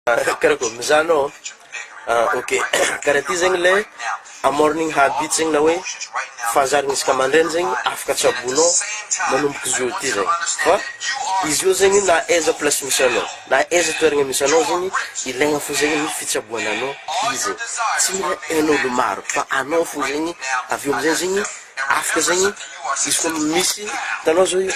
Kara kara ko mizaha anao ah ok kara ty zegny le a morning habit zegny na hoe fahazarana isaka mandraigny zegny afaka tsaboinao manomboka izy eo ty zegny fa izy io zegny na aiza place misy anao na aiza toeragna misy anao zegny ilaigna fo zegny ny fitsaboana anao izy tsy mila ain'olo maro fa anao fo zegny avy eo amizay zegny afaka zegny izy ko misy hitanao zao io.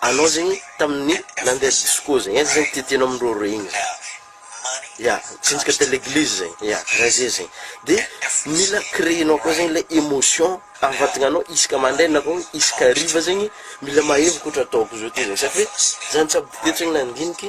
anao zegny tamin'ny nandeha disco zegny aiza zegny ty tianao miroro igny zegny ya mitsinjaka tele eglise zegny ya karaha ze zegny de mila creenao koa zegny le emotion avadignanao isaka mandraigna na koa isaka hariva zegny mila mahery koa ohatra ataoko zao ty zegny satria zany jiaby bokeo tsy nandigniky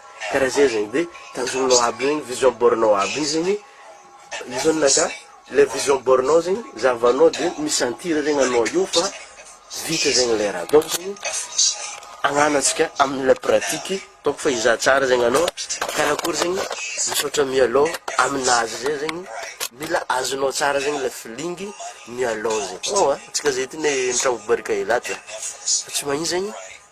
Karaha zay zegny de tanjognonao aby zegny vision board-nao aby igny zegny io zany naka le vision board-nao zegny zahavanao de mi-sentir zegny anao io fa vita zegny le raha donc zegny agnanantsika amle pratique donc fa hizaha tsara zegny anao karakory zegny misaotra mialô aminazy zay zegny mila azonao tsara zegny le feeling mialô zegny, oa antsika zay ty ne nitravobarika elaty fa tsy magnino zegny.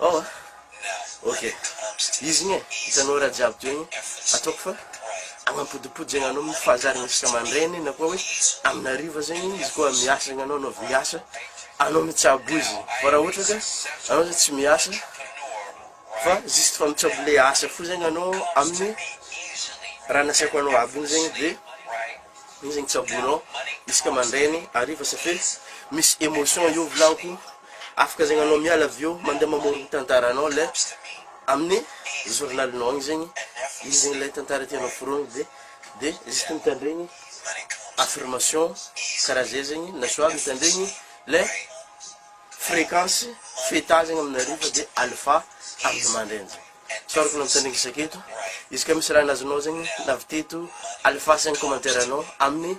Ao a! Ok. Izy igny e, hitanao raha jiaby toy igny, ataoko fa agnapodipody zegny anao mifanjary isaka aman-dreny na koa hoe amin'ny hariva zegny izy koa miasa zegny anao, anao avy miasa, anao mitsabo izy, fa raha ohatra ka anao zany tsy miasa fa juste fa mitsabo le asa fo zegny anao amin'ny raha nasiako anao aby igny zegny de igny zegny tsaboinao isaka aman-dreny, hariva ça fait misy emotion eo volagny ko. Afaka zegny anao miala avy eo mandeha mamory ny tantaranao le amin'ny journalinao agny zegny ino zegny le tantara tianao foronigny de de juste mitandregny affirmation karaha zay zegny na soit mitandregny le fréquence feta zegny amin'ny hariva de alpha amin'ny mandraigny zegny tsaroako anao mitandregny isaketo izy ka misy raha ny azonao zegny na avy teto alpha zegny commentaire anao amin'ny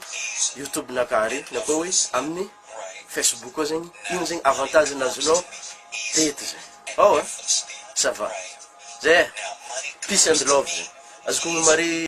youtube-nakah ary na koa hoe amin'ny Facebook koa zegny ino zegny avantage ny azonao teto zay ao a ça va zay e peace and love zay azoko omeo mare.